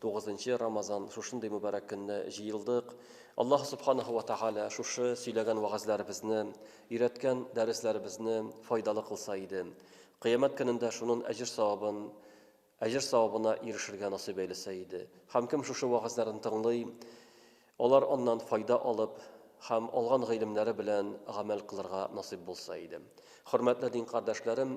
Тугызынчы Рамазан, шушындый мөбарәк көнне җыелдык. Аллаһ Субханаһу ва Тәгалә шушы сөйләгән вәгазьләребезне, өйрәткән дәресләребезне файдалы кылса иде. Кыямәт көнендә шунын әҗер-савабын әҗер-савабына ирешергә насыйп әйләсә иде. Һәм кем шушы вәгазьләрен тыңлый, алар аннан файда алып һәм алган гыйлемнәре белән гамәл кылырга насыйп булса иде. Хөрмәтле дин кардәшләрем!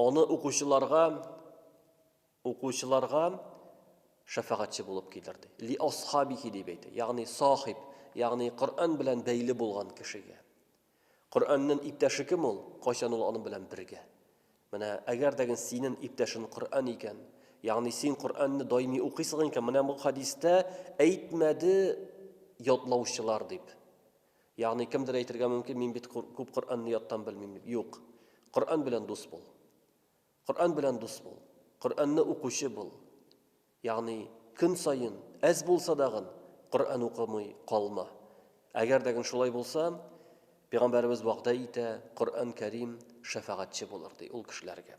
Олы укучыларга укучыларга шәфәгатьче булып килер ди. Ли асхабихи дип әйтә. Ягъни сахиб, ягъни Коръән белән бәйле булган кешегә. Коръәннән иптәше кем ул? Кайчан ул аның белән бергә? Менә әгәр дә гел синен иптәшен Коръән икән, ягъни син Коръәнне даими укыйсың икән, менә бу хадистә әйтмәде ятлаучылар дип. Ягъни кемдер әйтергә мөмкин, мин бит күп Коръәнне яттан белмим дип. Юк. Коръән белән дус бул. Коръән белән дус бул. Коръәнне укучы бул. Ягъни көн саен, әз булса дагын, Коръән укымый калма. Әгәр дәгин шулай булса, Пигамбәребез вәгъдә итә, Коръән Кәрим шәфәгатьче булыр, ди ул кешеләргә.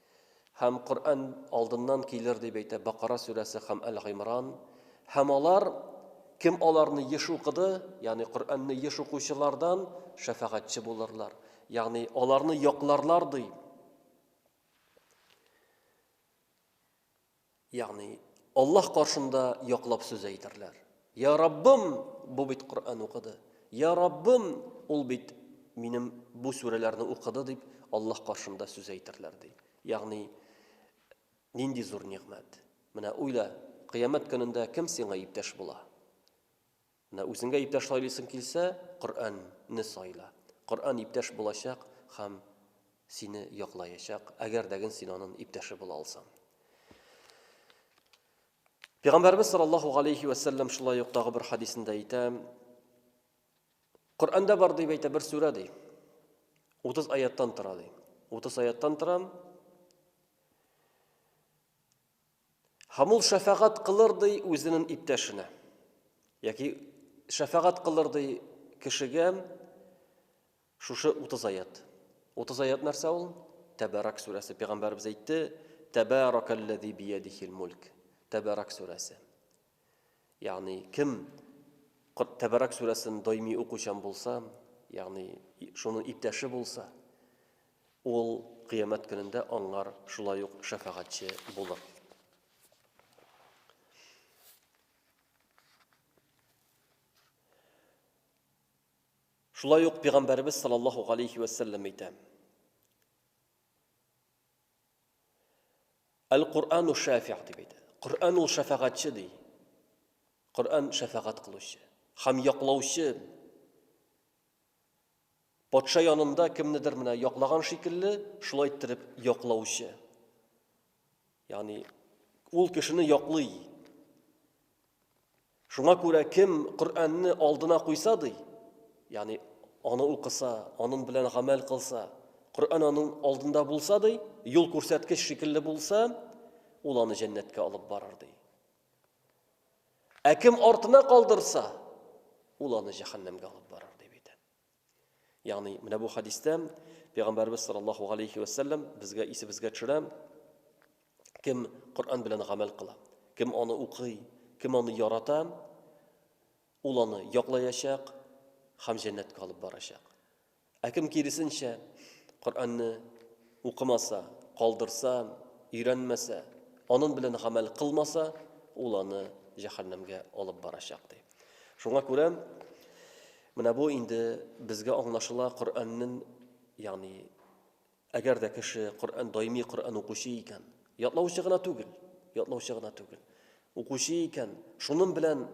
Һәм Коръән алдыннан килер, дип әйтә Бакара сүрәсе һәм Әл-Гыймран. Һәм алар, кем аларны еш укыды, ягъни Коръәнне еш укучылардан шәфәгатьче булырлар. Ягъни аларны якларлар, ди. Ягъни, Аллаһ каршында яклап сүз әйтерләр. Я Раббым, бу бит Коръән укыды. Я Раббым, ул бит минем бу сүрәләрне укыды дип Аллаһ каршында сүз әйтерләр ди. Ягъни, нинди зур нигъмәт. Менә уйла, кыямәт көнендә кем сиңа иптәш була? Менә үзеңә иптәш сайлыйсың килсә, Коръән не сайла. Коръән иптәш булачак һәм сине яклаячак, әгәр дәген син анын иптәше була алсаң. Пигамбәрбез саллаллаху галейхи вә сәлләм шулай ук тагы бер хадисендә әйтә, Коръәндә бар дип әйтә бер сүрә ди. 30 аяттан тора ди. 30 аяттан тора. Һәм ул шәфәгать кылыр ди үзенен иптәшенә, яки шәфәгать кылыр ди кешегә шушы 30 аят. 30 аят нәрсә ул? Тәбәрак сүрәсе. Пәйгамбәрбез әйтте, Тәбәракәлләзи биядихил мульк. Тәбәрак сүрәсе. Ягъни, кем Кот Тәбәрак сүрәсен даими укучан булса, ягъни шуның иптәше булса, ул кыямәт көнендә аңар шулай ук шәфәгатьче булыр. Шулай ук пәйгамбәребез саллаллаһу алейхи ва әйтә. Әл-Коръану шәфи'г дип әйтә. Коръан ул шәфәгатьче ди. Коръан шәфәгать кылучы һәм яклаучы. Патша янында кемнедер менә яклаган шикелле, шулай иттереп яклаучы. Ягъни ул кешене яклый. Шуңа күрә кем Коръәнне алдына куйса, ди, ягъни аны укыса, аның белән гамәл кылса, Коръән аның алдында булса, ди, юл күрсәткеч шикелле булса, ул аны җәннәткә алып барыр, ди. Ә кем артына калдырса, ул аны җәһәннәмгә алып барыр, дип әйтә. Ягъни, менә бу хәдистә Пәйгамбәребез саллаллаһу галәйһи вә сәлләм безгә исебезгә төшерә, кем Коръән белән гамәл кыла, кем аны укый, кем аны ярата, ул аны яклаячак һәм җәннәткә алып барачак. Ә кем киресенчә Коръәнне укымаса, калдырса, өйрәнмәсә, анын белән гамәл кылмаса, ул аны җәһәннәмгә алып барачак ди. Шуңа күрә Менә бу инде безгә аңлашыла Коръәннен, ягъни әгәр дә кеше Коръән даими Коръән укучы икән, ятлаучы гына түгел, ятлаучы гына түгел, укучы икән, шунын белән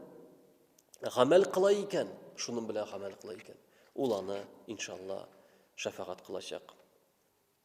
гамәл кыла икән, шунын белән гамәл кыла икән, ул аны, иншалла, шәфәгать кылачак.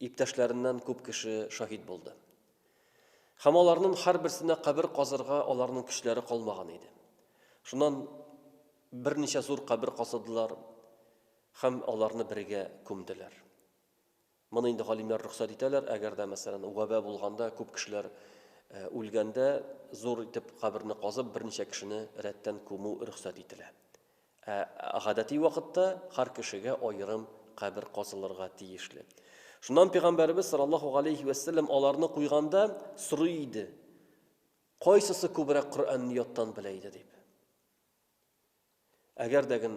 Иптәшләреннән күп кеше шаһит булды. Һәм аларның һәрберсенә кабер казырга аларның көчләре калмаган иде. Шуннан берничә зур кабер казыдылар һәм аларны бергә күмделәр. Моны инде галимнәр рөхсәт итәләр, әгәр дә, мәсәлән, вәбә булганда, күп кешеләр э, үлгәндә, зур итеп каберне казып, берничә кешене рәттән күмү рөхсәт ителә. Ә гадәти вакытта һәр кешегә аерым кабер казылырга тиешле. Шуннан пигамбәребез саллаллаһу галәйһи вә сәлләм аларны куйганда сорый иде, Кайсысы күбрәк Коръәнне яттан белә иде дип. Әгәр дә ген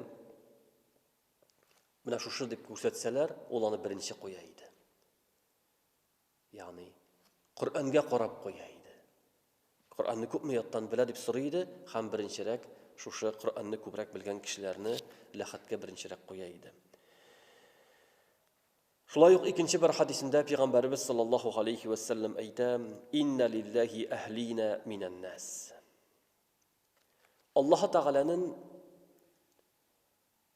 менә шушы дип күрсәтсәләр, ул аны беренче куя иде. Ягъни, Коръәнгә карап куя иде. Коръәнне күпме яттан белә дип сорый иде, һәм беренчерәк шушы Коръәнне күбрәк белгән кешеләрне ләхәткә беренчерәк куя иде. Шулай ук икенче бер хадисендә пәйгамбәребез саллаллаһу алейхи ва саллям әйтә: "Инна лилләһи әһлина минән нас". Аллаһ Тәгаләнең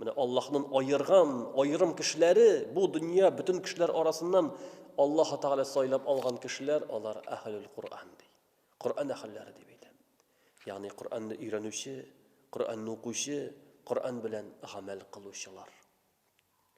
Менә Аллаһнын аерган, аерым кешеләре, бу дөнья бөтен кешеләр арасыннан Аллаһ Тәгалә сайлап алган кешеләр, алар әһлул Кур'ан ди. Кур'ан әһелләре дип әйтә. Ягъни Кур'анны өйрәнүче, Кур'анны укучы, Кур'ан белән гамәл кылучылар.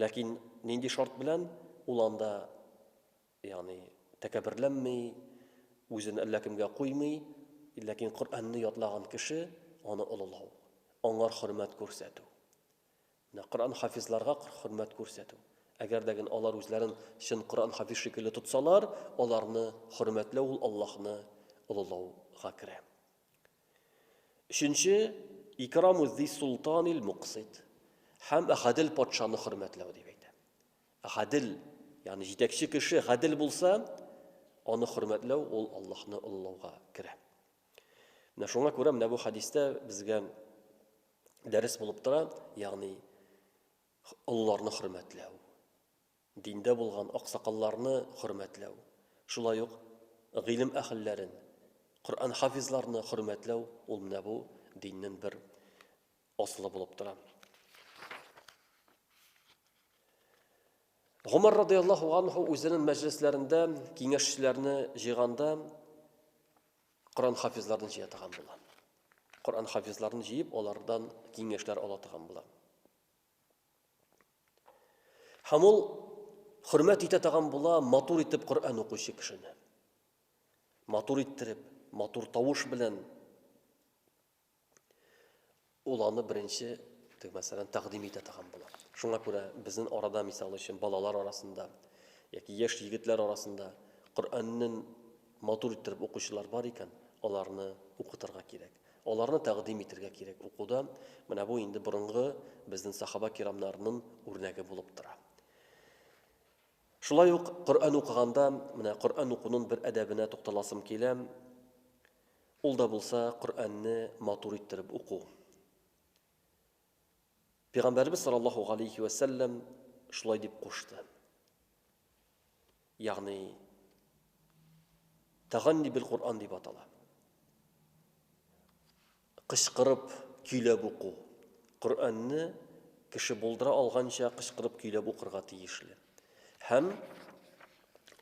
Ләкин нинди шарт белән? Ул анда, ягъни, тәкәбберләнми, үзен әллә кемгә куймый, ләкин Коръәнне ятлаган кеше, аны олылау, аңар хөрмәт күрсәтү. Менә Коръән хафизларга хөрмәт күрсәтү. Әгәр дә генә алар үзләрен чын Коръән хафиз шикелле тотсалар, аларны хөрмәтләү ул Аллаһны олылауга керә. Өченче, икраму зи султанил муксит. Һәм гадел патшаны хөрмәтләү дип әйтә. Гадел, ягъни җитәкче кеше гадел булса, аны хөрмәтләү ул Аллаһны олылауга керә. Менә шуңа күрә менә бу хәдистә безгә дәрес булып тора, ягъни олыларны хөрмәтләү. Диндә булган аксакалларны хөрмәтләү, шулай ук гыйлем әһелләрен, Коръән хафизларны хөрмәтләү, ул менә бу диннен бер асылы булып тора. Гомәр радиаллаһу анһу үзенен мәҗлесләрендә киңәшчеләрне җыйганда Коръән хафизларын җыя торган була. Коръән хафизларын җыеп, алардан киңәшләр ала торган була. Һәм ул хөрмәт итә тагын була матур итеп Коръән укучы кешене. Матур иттереп, матур тавыш белән ул аны беренче, тек мәсәлән, тәкъдим итә тагын була. Шуңа күрә безнең арада, мисал өчен, балалар арасында яки яшь егетләр арасында Коръәннен матур иттереп укучылар бар икән, аларны укытырга кирәк. Аларны тәкъдим итергә кирәк укуда, менә бу инде борынгы безнен сахаба кирамнарнын үрнәге булып тора. Шулай ук Коръән укыганда, менә Коръән укунын бер әдәбенә тукталасым килә. Ул да булса Коръәнне матур иттереп уку. Пәйгамбәребез саллаллаһу галәйһи вә сәлләм шулай дип кушты. Ягъни Таганни бил Кур'ан дип атала. Кычкырып көйләп уку. Кур'анны кеше булдыра алганча кычкырып көйләп укырга тиешле. Һәм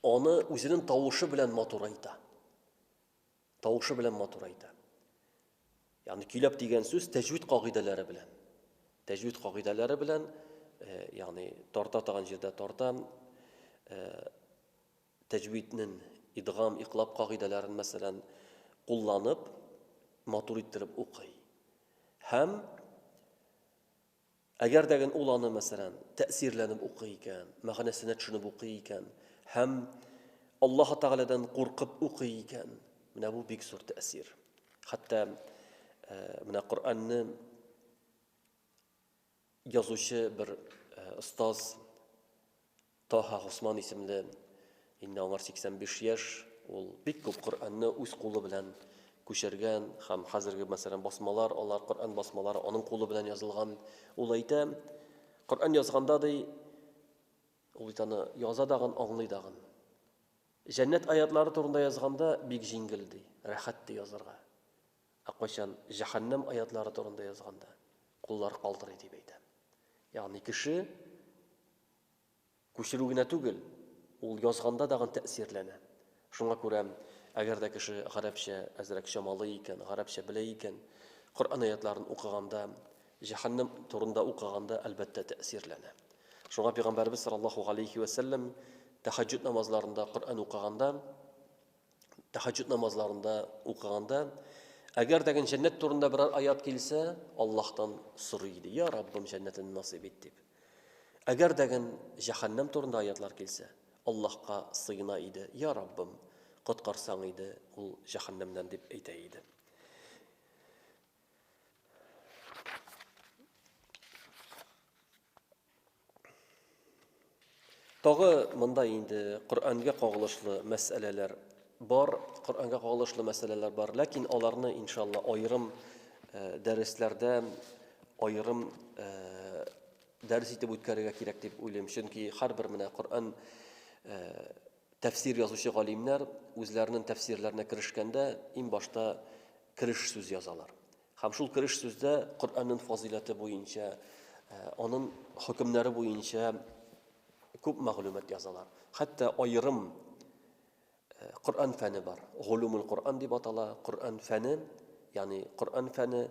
аны үзенең тавышы белән матурайта. Тавышы белән матур әйтә. Ягъни көйләп дигән сүз тәҗвид кагыйдәләре белән. Тәҗвид кагыйдәләре белән, э, ягъни тарта тагын җирдә тарта, э, тәҗвиднен идгам, иклап кагыйдәләрен мәсәлән кулланып, матур иттереп укый. Һәм Әгәр дә гел ул аны, мәсәлән, тәэсирләнеп укый икән, мәгънәсенә төшенеп укый икән һәм Аллаһы Тәгаләдән куркып укый икән, менә бу бик зур тәэсир. Хәтта э, менә Коръәнне язучы бер э, остаз Таһа Госман исемле, инде аңар 85 яшь, ул бик күп Коръәнне үз кулы белән күчергән һәм хәзерге, мәсәлән, басмалар, алар Коръән басмалары аның кулы белән язылган. Ул әйтә, Коръән язганда, ди, ул бит аны яза дагын, аңлый дагын. Җәннәт аятлары турында язганда бик җиңел, ди, рәхәт, ди, язарга. Ә кайчан җәһәннәм аятлары турында язганда, куллар калтырый, дип әйтә. Ягъни кеше Күчерү генә түгел, ул язганда дагын тәэсирләнә. Шуңа күрә, әгәр дә кеше гарәпчә әзрәк чамалый икән, гарәпчә белә икән, Коръән аятьләрен укыганда, җәһәннәм турында укыганда, әлбәттә, тәэсирләнә. Шуңа Пәйгамбәребез саллаллаһу галәйһи вә сәлләм тәһәҗҗүд намазларында Коръән укыганда, тәхәҗҗүд намазларында укыганда әгәр дәген җәннәт турында берәр аят килсә, Аллаһтан сорый иде, "Я Раббым, җәннәтен насыйп ит" дип. Әгәр дәген җәһәннәм турында аятлар килсә, Аллаһка сыена иде, "Я Раббым, коткарсаң иде ул җәһәннәмнән" дип әйтә иде. Тагы монда инде Коръәнгә кагылышлы мәсьәләләр бар, Коръәнгә кагылышлы мәсьәләләр бар, ләкин аларны иншалла аерым э, дәресләрдә аерым э, дәрес итеп үткәрергә кирәк дип уйлыйм. Чөнки һәрбер менә Коръән э, тәфсир язучы галимнәр үзләренең тәфсирләренә керешкәндә иң башта кереш сүз язалар. Һәм шул кереш сүздә Коръәннең фазыйләте буенча, аның хөкемнәре буенча күп мәгълүмат язалар. Хәтта аерым Коръән фәне бар. Гулумул Коръән дип атала. Коръән фәне, ягъни Коръән фәне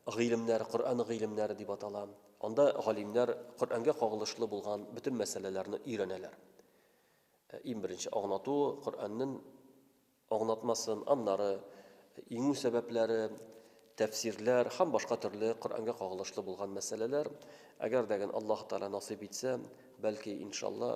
гыйлемнәр, Коръән гыйлемнәре дип атала. Анда галимнәр Коръәнгә кагылышлы булган бөтен мәсьәләләрне өйрәнәләр. Иң беренче агнату Коръәннең аңлатмасын, аннары, иңү сәбәпләре, тәфсирләр һәм башка төрле Коръәнгә кагылышлы булган мәсьәләләр, әгәр дә гән Аллаһ Тәгалә насыйп итсә, бәлки, иншалла,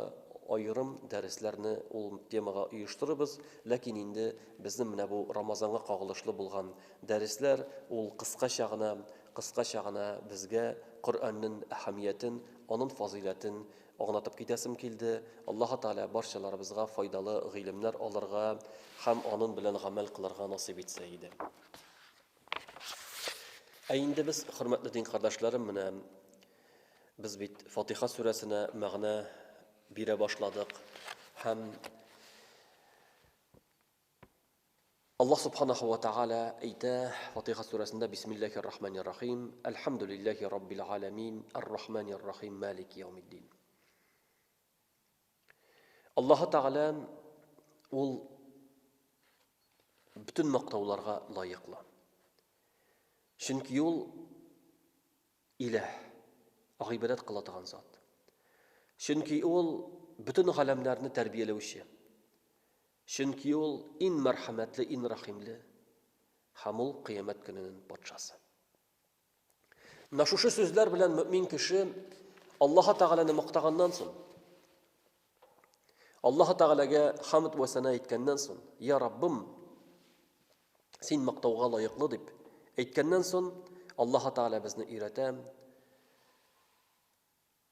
аерым дәресләрне ул темага оештырырбыз, ләкин инде безнең менә бу Рамазанга кагылышлы булган дәресләр, ул кыскача гына, кыскача гына безгә Коръәннен әһәмиятен, анын фазыйләтен Аңлатып китәсем килде, Аллаһы Тәгалә барчаларыбызга файдалы гыйлемнәр алырга һәм анын белән гамәл кылырга насыйп итсә иде. Ә инде без, хөрмәтле дин кардәшләрем, менә без бит Фатиха сүрәсенә мәгънә бирә башладык һәм Аллаһ Субханаһу ва Тәгалә әйтә Фатиха сүрәсендә Бисмиллахир Рахманир Рахим, Әлхәмдүлилләһи Раббил Галәмин, Ар-Рахманир Рахим, Малики Яумиддин. Аллаһ Тәгалә ул бөтен мактауларга лаеклы. Чөнки ул Илаһ, гыйбадәт кыла торган зат. Чөнки Ул, бөтен галәмнәрне тәрбияләүче. Чөнки Ул, ин мәрхәмәтле, ин рәхимле. Һәм Ул, кыямәт көненен патшасы. Менә шушы сүзләр белән мөмин кеше Аллаһы Тәгаләне мактаганнан соң, Аллаһы Тәгаләгә хамд вә сана әйткәннән соң, я Раббым, Син мактауга лаеклы, дип әйткәннән сон, Аллаһы Тәгалә безне өйрәтә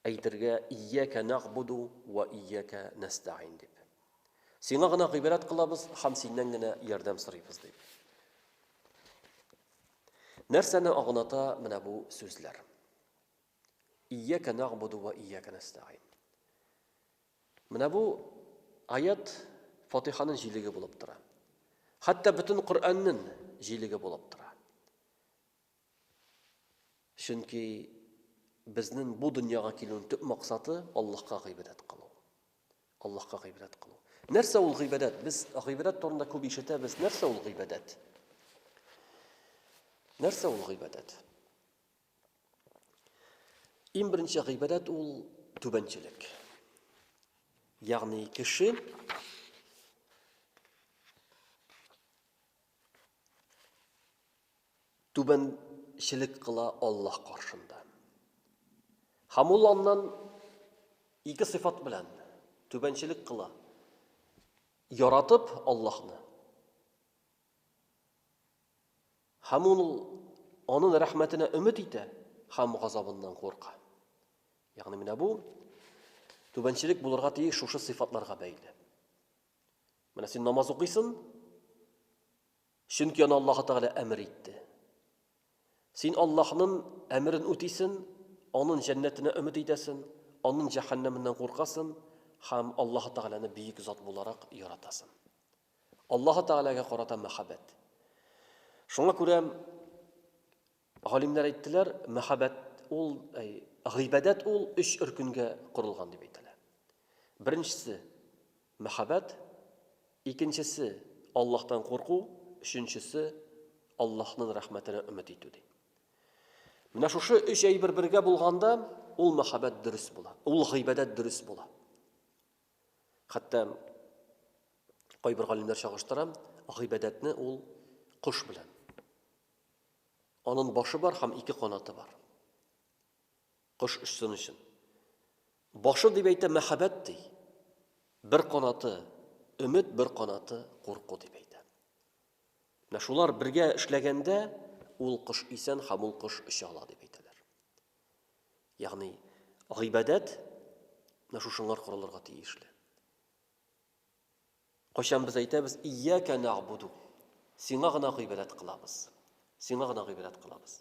әйтергә Ияка нагъбуду ва ияка нәстәгин дип. Сиңа гына гыйбадәт кылабыз һәм синнән генә ярдәм сорыйбыз дип. Нәрсәне агыната менә бу сүзләр? Ияка нагъбуду ва ияка нәстәгыйн. Менә бу аят Фатиханың җилеге булып тора. Хәтта бөтен Коръәннең җилеге булып тора. Чөнки безнең бу дөньяга килүнең төп максаты Аллаһка гыйбадәт кылу. Аллаһка гыйбадәт кылу. Нәрсә ул гыйбадәт? Без гыйбадәт турында күп ишетәбез. Нәрсә ул гыйбадәт? Нәрсә ул гыйбадәт? Иң беренче гыйбадәт ул түбәнчелек. Ягъни кеше түбәнчелек кыла Аллаһ каршында. Һәм ул аннан ике сыйфат белән түбәнчелек кыла. Яратып Аллаһны Һәм ул аның рәхмәтенә өмет итә һәм газабыннан курка. Ягъни менә бу түбәнчелек булырга тиеш шушы сыйфатларга бәйле. Менә син намаз укыйсың, чөнки аны Аллаһ Тәгалә әмер итте. Син Аллаһның әмерен үтисең, аның җәннәтенә өмет итәсең, аның җәһәннәменнән куркасың һәм Аллаһ Тәгаләне бөек зат буларак яратасың. Аллаһы Тәгаләгә карата мәхәббәт. Шуңа күрә галимнәр әйттеләр, мәхәббәт ул, гыйбадәт ул өч өркенгә корылган дип әйтәләр. Беренчесе мәхәббәт, икенчесе Аллаһтан курку, өченчесе Аллаһның рәхмәтенә өмет итү ди. Менә шушы өч әйбер бергә булганда, ул мәхәббәт дөрес була, ул гыйбадәт дөрес була. Хәтта кайбер галимнәр чагыштыра, гыйбадәтне ул кош белән. Анын башы бар һәм ике канаты бар. Кош өчсен өчен. Башы дип әйтә мәхәббәт ди. Бер канаты өмет, бер канаты курку дип әйтә. Менә шулар бергә эшләгәндә ул кош исән һәм ул кош оча ала дип әйтәләр. Ягъни, гыйбадәт менә шушынлар корылырга тиешле. Кайчан без әйтәбез, ияка нагъбуду. Сиңа гына гыйбадәт кылабыз. Сиңа гына гыйбадәт кылабыз.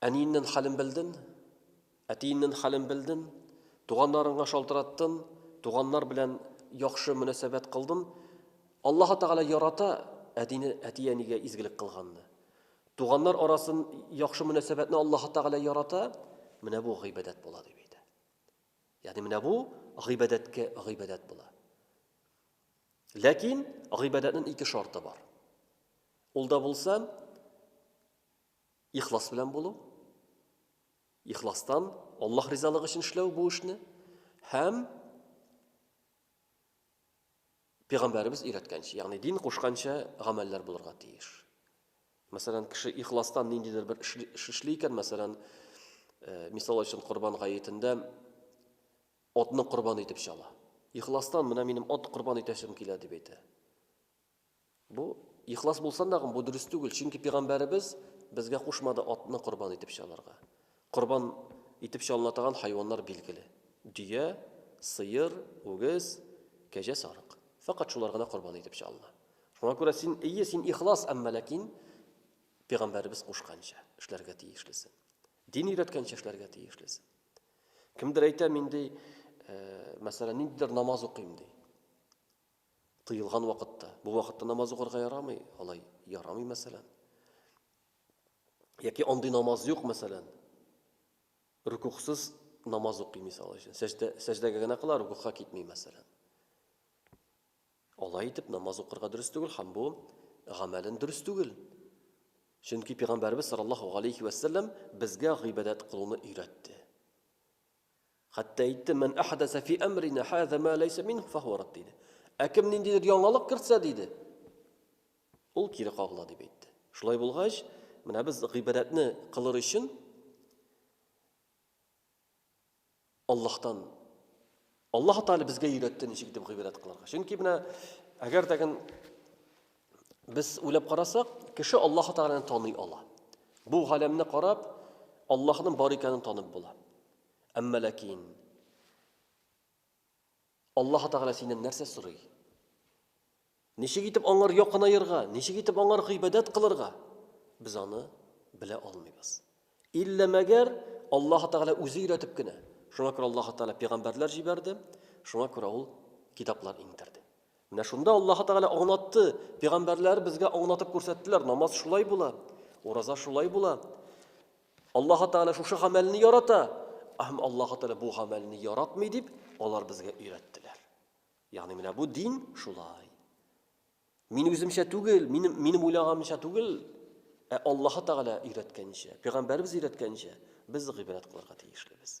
Әниеннән хәлен белден, әтиеннән хәлен белден, туганнарыңа шалтыраттын, туганнар белән яхшы мөнәсәбәт кылдын. Аллаһы Тәгалә ярата әтине, әти-әнигә изгелек кылганны. Туганнар арасын яхшы мөнәсәбәтне Аллаһы Тәгалә ярата, менә бу гыйбадәт була дип әйтә. Ягъни менә бу гыйбадәткә гыйбадәт була. Ләкин гыйбадәтнең ике шарты бар. Ул да булса ихлас белән булу. Ихластан Аллаһ ризалыгы өчен эшләү бу эшне һәм Пәйгамбәребез өйрәткәнчә, ягъни дин кушканча гамәлләр булырга тиеш. Мәсәлән, кеше ихластан ниндидер бер эш эшли икән, мәсәлән, э, мисал өчен Корбан гаетендә Атны корбан итеп чала. Ихластан, менә минем ат корбан итәсем килә, дип әйтә. Бу ихлас булсан да, бу дөрес түгел, чөнки пигамбәребез безгә кушмады атны корбан итеп чалырга. Корбан итеп чалына торган хайваннар билгеле. Дөя, сыер, үгез, кәҗә, сарык. Фәкать шулар гына корбан итеп чалына. Шуңа күрә син, әйе, син ихлас, әмма ләкин пигамбәребез кушканча эшләргә тиешлесең. Дин өйрәткәнчә эшләргә тиешлесең. Кемдер әйтә, мин ди, мәсәлән, ниндидер намаз укыйм ди. Тыелган вакытта. Бу вакытта намаз укырга ярамый, алай ярамый, мәсәлән. Яки андый намаз юк, мәсәлән. Рукуксыз намаз укый, мисал өчен. Сәҗдә, сәҗдәгә генә кыла, рукукка китми, мәсәлән. Алай итеп намаз укырга дөрес түгел һәм бу гамәлен дөрес түгел. Чөнки пигамбәрбез саллаллаһу галәйһи вә сәлләм безгә гыйбадәт кылуны өйрәтте. Хәтта әйтте, "Мен ахадаса фи амрина хаза ма лайса мин фаху рад" диде. Ә кем ниндидер яңалык кертсә диде, ул кире кагыла дип әйтте. Шулай булгач, менә без гыйбадәтне кылыр өчен Аллаһтан. Аллаһу Тәгалә безгә өйрәтте ничек итеп гыйбадәт кылырга. Чөнки менә әгәр дә ген без уйлап карасак, кеше Аллаһу Тәгаләне таный ала. Бу галәмне карап, Аллаһның бар икәнен танып була. Әмма ләкин Аллаһы Тәгалә синнән нәрсә сорый? Ничек итеп аңар якынаерга, ничек итеп аңар гыйбадәт кылырга? Без аны белә алмыйбыз. Иллә мәгәр Аллаһы Тәгалә үзе өйрәтеп кенә. Шуңа күрә Аллаһы Тәгалә пигамбәрләр җибәрде, шуңа күрә ул китаплар иңдерде. Менә шунда Аллаһы Тәгалә аңлатты, пигамбәрләр безгә аңлатып күрсәттеләр, намаз шулай була, ураза шулай була, Аллаһы Тәгалә шушы гамәлне ярата, һәм Аллаһы Тәгалә бу гамәлне яратмый дип, алар безгә өйрәттеләр. Ягъни менә бу дин шулай. Мин үземчә түгел, минем минем уйлаганымча түгел, ә Аллаһы Тәгалә өйрәткәнчә, пәйгамбәребез өйрәткәнчә без гыйбадәт кылырга тиешлебез.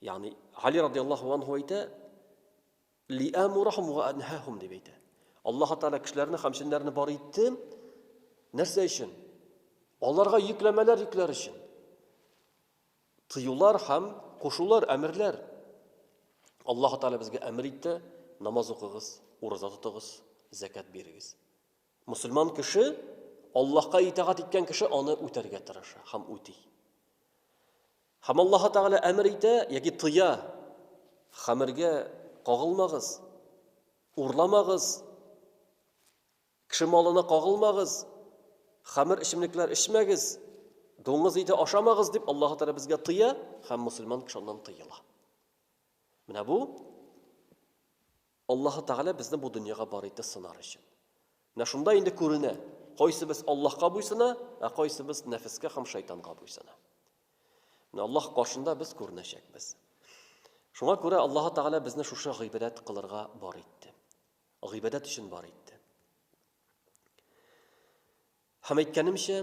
Ягъни Али радиаллаһу анһу әйтә, "Ли амурахум ва анхахум" дип әйтә. Аллаһ Тәгалә кешеләрне һәм җеннәрне бар итте. Нәрсә өчен? Аларга йөкләмәләр йөкләр өчен. Тыюлар һәм кушулар, әмерләр. Аллаһ Тәгалә безгә әмер итте, намаз укыгыз, ураза тотыгыз, закат бирегез. Мөселман кеше, Аллаһка итагать иткән кеше аны үтәргә тырыша һәм үти. Һәм Аллаһ Тәгалә әмер итә яки тыя, хәмергә кагылмагыз, урламагыз, кеше малына кагылмагыз, хәмер эчемлекләр эчмәгез, дуңгыз ите ашамагыз дип Аллаһ Тәгалә безгә тыя һәм мусульман кеше аннан тыела. Менә бу Аллаһы Тәгалә безне бу дөньяга бар итте сынар өчен. Менә шунда инде күренә, кайсыбыз Аллаһка буйсына, ә кайсыбыз нәфескә һәм шайтанга буйсына. Менә Аллаһ каршында без күренәчәкбез. Шуңа күрә Аллаһы Тәгалә безне шушы гыйбадәт кылырга бар итте. Гыйбадәт өчен бар итте. Һәм әйткәнемчә,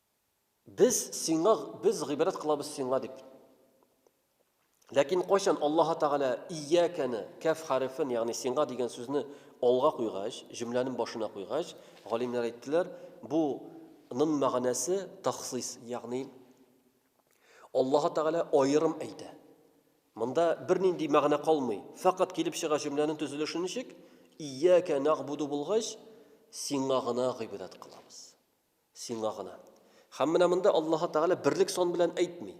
Без сиңа, без гыйбрәт кылабыз сиңа дип. Ләкин кайчан Аллаһ Тәгалә иякәне, кәф хәрефен, ягъни сиңа дигән сүзне алга куйгач, җөмләнең башына куйгач, галимнәр әйттеләр, бу ның мәгънәсе тахсис, ягъни Аллаһ Тәгалә аерым әйтә. Монда бернинди мәгънә калмый. Фәкать килеп чыга җөмләнең төзелеше ничек? Ияка нагъбуду булгач, сиңа гына гыйбадәт кылабыз. Сиңа гына. Һәм менә монда Аллаһы Тәгалә берлек сан белән әйтми.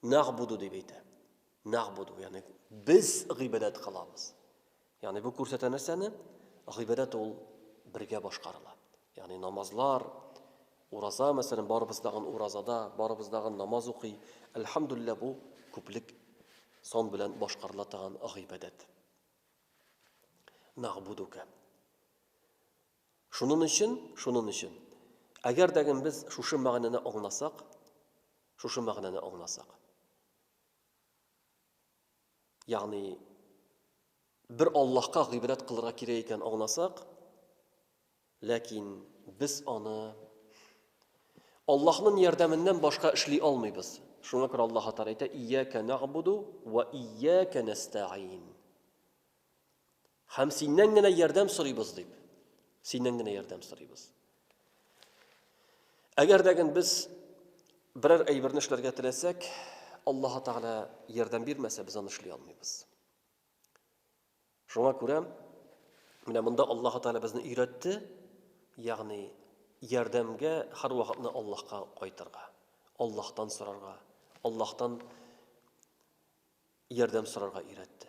Нәгъбуду дип әйтә. Нәгъбуду, ягъни без гыйбадәт кылабыз. Ягъни бу күрсәтә нәрсәне? Гыйбадәт ул бергә башкарыла. Ягъни намазлар, ураза, мәсәлән, барыбыз тагын уразада, барыбыз тагын намаз укый. Әлхәмдулилла, бу күплек сон белән башкарыла торган гыйбадәт. Нагъбудука. Шунын өчен, шунын өчен. Әгәр дәгем без шушы мәгънәне аңласак, шушы мәгънәне аңласак. Ягъни бер Аллаһка гыйбрәт кылырга кирәк икән аңласак, ләкин без аны Аллаһның ярдәменнән башка эшли алмыйбыз. Шуңа күрә Аллаһ Тәгалә әйтә: "Ияка нагъбуду ва ияка нәстәгин". Һәм синнән генә ярдәм сорыйбыз дип. Синнән генә ярдәм сорыйбыз. Әгәр дә гын без берәр әйберне эшләргә теләсәк, Аллаһ Тәгалә ярдәм бирмәсә, без аны эшли алмыйбыз. Шуңа күрә менә монда Аллаһ Тәгалә безне өйрәтте, ягъни ярдәмгә һәрвакытны Аллаһка кайтырга, Аллаһтан сорарга, Аллаһтан ярдәм сорарга өйрәтте.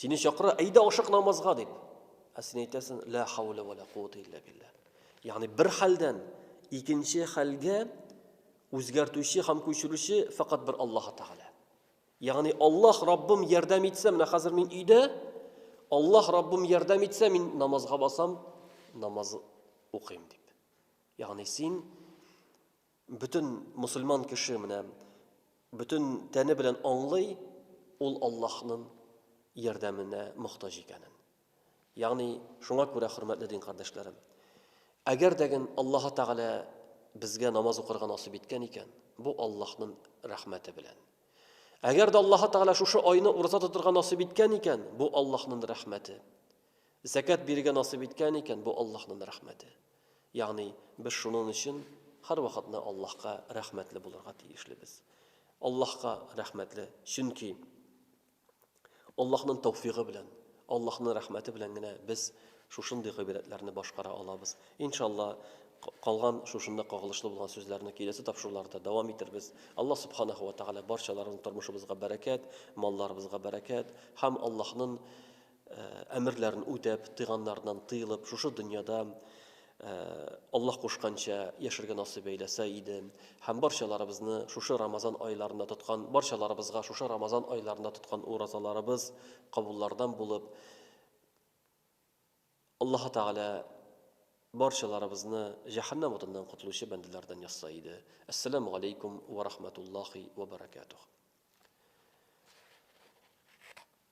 Сине чакыра, әйдә ашык намазга дип. Ә син әйтәсең, ла хаула ва ла куата илля билла. Ягъни бер хәлдән икенче хәлгә үзгәртүче һәм күчерүче фәкать бер Аллаһ Тәгалә. Ягъни Аллаһ Раббым ярдәм итсә, менә хәзер мин өйдә, Аллаһ Раббым ярдәм итсә, мин намазга басам, намаз укыйм дип. Ягъни син Бөтен мөселман кеше менә бөтен тәне белән аңлый, ул Аллаһның ярдәменә мохтаҗ икәнен. Ягъни, шуңа күрә, хөрмәтле дин кардәшләрем, әгәр дәген Аллаһы Тәгалә безгә намаз укырга насыйп иткән икән, бу Аллаһның рәхмәте белән. Әгәр дә Аллаһы Тәгалә шушы айны ураза тотырга насыйп иткән икән, бу Аллаһның рәхмәте. Зәкят бирергә насыйп иткән икән, бу Аллаһның рәхмәте. Ягъни, без шунын өчен һәрвакыт на Аллаһка рәхмәтле булырга тиешлебез. Аллаһка рәхмәтле, чөнки Аллаһның тәүфигы белән, Аллаһның рәхмәте белән генә без шушындый гыйбрәтләрне башкара алабыз. Иншалла, калган шушында кагылышлы булган сүзләрне киләсе тапшыруларда дәвам итербез. Аллаһ Субханаһу ва Тәгалә барчаларыбызның тормышыбызга бәрәкәт, малларыбызга бәрәкәт һәм Аллаһның әмерләрен үтәп, тыйганнарыннан тыелып, шушы дөньяда Аллаһ кушканча яшәргә насыйп әйләсә иде. Һәм барчаларыбызны шушы Рамазан айларында тоткан, барчаларыбызга шушы Рамазан айларында тоткан уразаларыбыз кабуллардан булып, Аллаһ Тәгалә барчаларыбызны җәһәннәм утыннан котылучы бәндәләрдән язса иде. Ассаламу алейкум ва рахматуллахи ва баракатух.